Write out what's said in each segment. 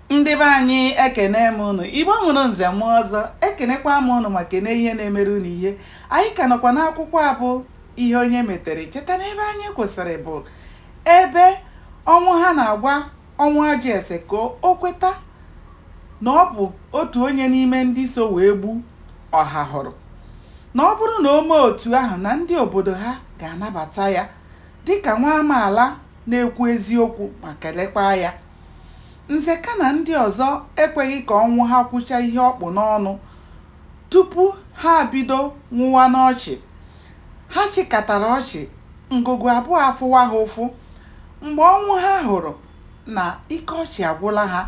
ndị be anyị ekene m ụnụ igbo mụrụ nze mụọ ọzọ ekenekwa m ụnụ ma kene ihe na-emere ụnụ ihe anyị ka nọkwa n'akwụkwọ a bụ ihe onye metere cheta na ebe anyị kwụsịrị bụ ebe ọnwụha na-agwa ọnwụ ajọ ese ka o kweta na ọ bụ otu onye n'ime ndị so wee gbu ọhahụrụ na ọ bụrụ na o mee otu ahụ na ndị obodo ha ga-anabata ya dịka nwa amaala na-ekwu eziokwu ma kelekwa ya Nzeka na ndị ọzọ ekweghị ka Ọnwụha kwucha ihe ọ kpụ n'ọnụ tupu ha abido nwụwa n'ọchị. Ha chịkatara ọchị, ngụgụ abụọ afụwa ha ụfụ. Mgbe Ọnwụha hụrụ na ike ọchị agwụla ha,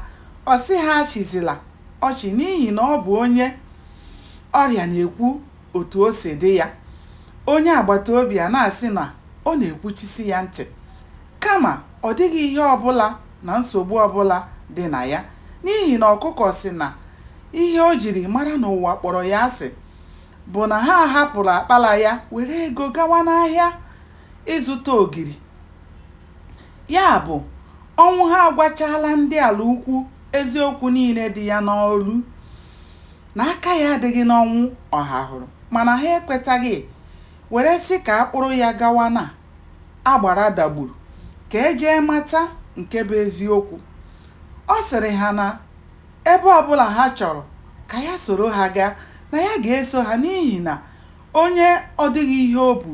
ọ sị ha achịzila ọchị n'ihi na ọ bụ onye ọrịa na-ekwu otu o si dị ya. Onye agbataobi ana-asị na ọ na-ekwuchisi ya ntị. Kama, ọ dịghị ihe ọ bụla na nsogbu ọ bụla dị na ya, n'ihi na ọkụkọ sị na ihe o jiri mara na ụwa kpọrọ ya asị bụ na ha hapụrụ akpala ya were ego gawa n'ahịa ịzụta ogiri. Ya bụ, Ọnwụha agwachaala ndị Alaukwu eziokwu niile dị ya n'olu, na aka ya adịghị n'ọnwụ Ọhahụrụ, mana ha ekwetaghị. were sị ka a kpụrụ ya gawa na agbara Dagburu ka e jee mata nke bụ eziokwu. Ọ sịrị ha na ebe ọbụla ha chọrọ ka ya soro ha gaa, na ya ga-eso ha n'ihi na onye ọ dịghị ihe o bu,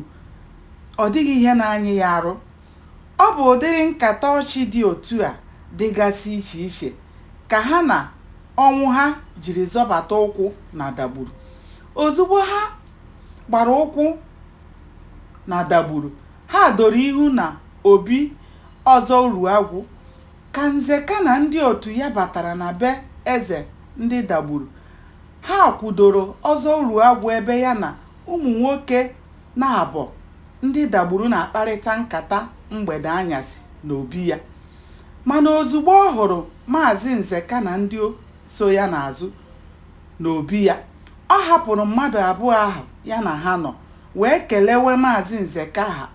ọ dịghị ihe na-anyị ya arụ. Ọ bụ ụdịrị nkata ọchị dị otu a dịgasị iche iche ka ha na Ọnwụha jiri zọbata ụkwụ na Dagburu. Ozugbo ha gbara ụkwụ na Dagburu ha doro ihu na obi Ọzọ Uruagwụ ka Nzeka na ndị otu ya batara na be eze ndị Dagburu. Ha kwudoro Ọzọ Uruagwụ ebe ya na ụmụ nwoke naabọ ndị Dagburu na-akparịta nkata mgbede anyasị n'obi ya. Mana ozugbo ọ hụrụ Maazị Nzeka na ndị so ya n'azụ, n'obi ya. Ọ hapụrụ mmadụ abụọ ahụ ya na ha nọ wee kelewe Maazị Nzeka ha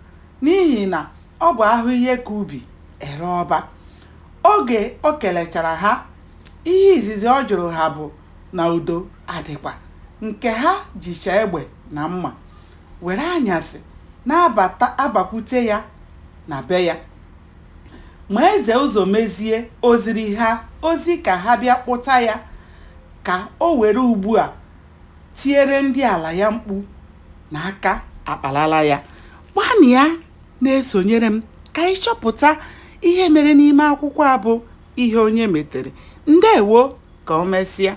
n'ihi na ọ bụ a hụ ihe ka ubi e ree ọba. Oge o kelechara ha, ihe izizi ọ jụrụ ha bụ na udo adịkwa, nke ha jicha egbe na mma were anyasị na-abakwute ya na be ya. Ma eze Ụzọmezie o ziri ha ozi ka ha bịa kpụta ya ka o were ugbu a tiere ndị ala ya mkpu na aka akpalala ya. Gbanịa na-esonyere m ka anyị chọpụta ihe mere n'ime akwụkwọ a bụ Ihe Onye Metere. Ndewo, ka o mesịa.